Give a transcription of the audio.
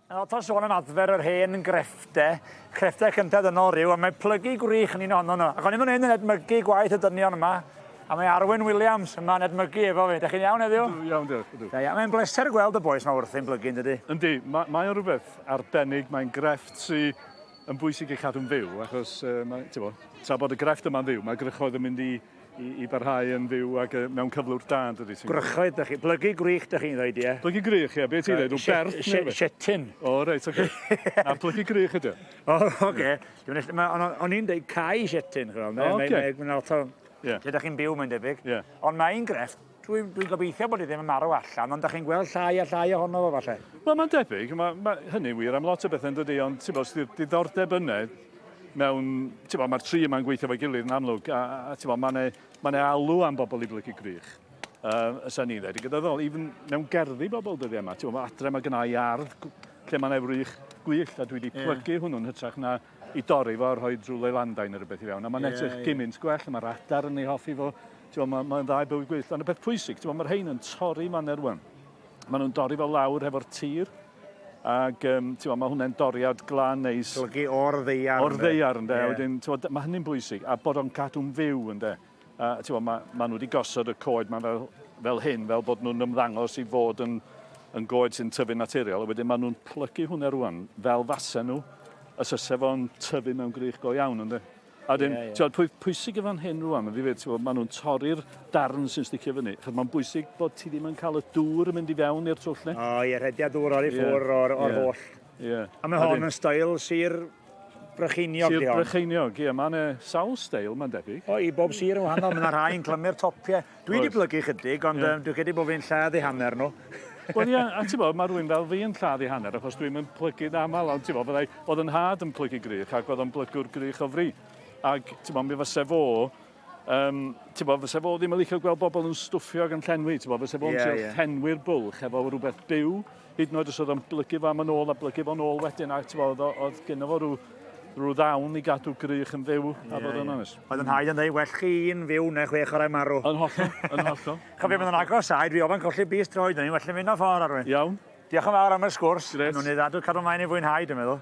Nawr, ta'n sôn yn adfer yr hen greffte, creffte cyntedd yno rhyw, a mae plygu gwrych yn un ohono nhw. Ac o'n i'n mynd yn edmygu gwaith y dynion yma, a mae Arwyn Williams yma yn edmygu efo fi. Dych chi'n iawn heddiw? Dwi'n iawn, diolch. Da iawn. Mae'n bleser gweld y boes yma wrthi'n blygu, yn dydy? Yndi, ma, mae o'n rhywbeth arbennig. Mae'n grefft sydd yn bwysig i cadw'n fyw, achos uh, mae, tra bod y grefft yma'n fyw, mae grychoedd yn mynd i I, i barhau yn fyw ac uh, mewn cyflwr da, dydy ti'n... Gwrychoedd, da chi. Plygu gwych, da chi'n dweud, ie? Plygu grych, ie. Be ti'n dweud? Rwy'n berth neu beth? Setin. O, reit, oce. Na, plygu grych ydy. O, oce. O'n i'n dweud cae setin, chwrdd. O, oce. Mae'n lot o... Ie. Lle da chi'n byw, mae'n debyg. Ie. Ond mae'n grefft. Dwi, dwi'n gobeithio bod hi ddim yn marw allan, ond da chi'n gweld llai a llai ohono fo falle. Wel, mae'n debyg, mae, mae hynny'n wir am lot o bethau yn dydy, ond ti'n bod, sydd diddordeb yna mewn, ti'n bod, mae'r tri yma'n gweithio fe gilydd yn amlwg, a, a ti'n bod, mae'n ei, mae'n ei alw am bobl i blygu grych. Uh, ysa ni'n dweud, gyda ddol, even mewn gerddi bobl dyddi yma, ti'n bod, adre mae gynnau ardd lle mae'n efrych gwych, a dwi wedi plygu yeah. hwnnw'n hytrach na i dorri fo a rhoi drwy leilandau neu rhywbeth i fewn. A mae'n yeah, edrych yeah. gymint gwell, mae'r adar yn ei hoffi fo. Mae'n ma, ma dda i bywyd gwyllt. Ond y peth pwysig, mae'r rhain yn torri maner rwan. Maen nhw'n dorri fo lawr hefo'r tir. Ac um, tiwa, mae hwnna'n doriad glan neis. Golygu o'r ddeiar. O'r ddeiar, ynddo. Yeah. Wedyn, mae hynny'n bwysig. A bod o'n cadw'n fyw, ynddo. A, ti'n gwybod, mae, mae nhw wedi gosod y coed mae fel, fel hyn, fel bod nhw'n ymddangos i fod yn, yn goed sy'n tyfu'n naturiol, a wedyn mae nhw'n plygu hwnna rwan, fel fasen nhw, y syse fo'n tyfu mewn grych go iawn, ynddo. A wedyn, yeah, yeah. pwy, pwysig yn fan hyn rwan, mae'n ddifyd, ti'n gwybod, maen nhw'n torri'r darn sy'n sticio fyny. Chos mae'n bwysig bod ti ddim yn cael y dŵr yn mynd i fewn i'r twll ni. O, ie, rhediad dŵr o'r i ffwr yeah. o'r, or yeah. holl. Ie. A mae hon yn stael Sir Brycheiniog, Sir Brycheiniog, ie. Mae yna sawl stael, mae'n debyg. O, i bob sir yn wahanol. Mae yna rhai yn clymu'r topiau. Dwi wedi plygu chydig, ond yeah. dwi'n credu bod fi'n lladd i hanner nhw. Wel, ie, a ti'n bod, mae rhywun fel fi yn lladd i hanner, achos dwi'n mynd plygu'n aml, ond ti'n bod, byddai, oedd yn had yn plygu grych, ac oedd yn blygwr grych o fri. Ac, ti'n bod, mi fysa fo Um, ti'n bod, fysa fo ddim yn licio gweld bobl yn stwffio ac yn llenwi, ti'n bod, fysa fo'n yeah, yeah. llenwi'r bwlch efo rhywbeth byw, hyd yn oed os oedd o'n blygu fo am yn ôl a blygu fo'n ôl wedyn, a ti'n bod, oedd gyda fo rhyw, rhyw ddawn i gadw grych yn fyw, yeah, a bod yn yeah. Oedd yn haid yn dweud, well chi un fyw neu chwe chwarae marw. Yn hollol, yn hollol. Chofio mynd yn agos aed, fi ofyn colli bus droed, ni'n well yn mynd o ffordd arwyn. Iawn. Diolch yn fawr am y sgwrs. Gret. Nw'n ei ddadw cadw maen i fwynhau, dwi'n meddwl.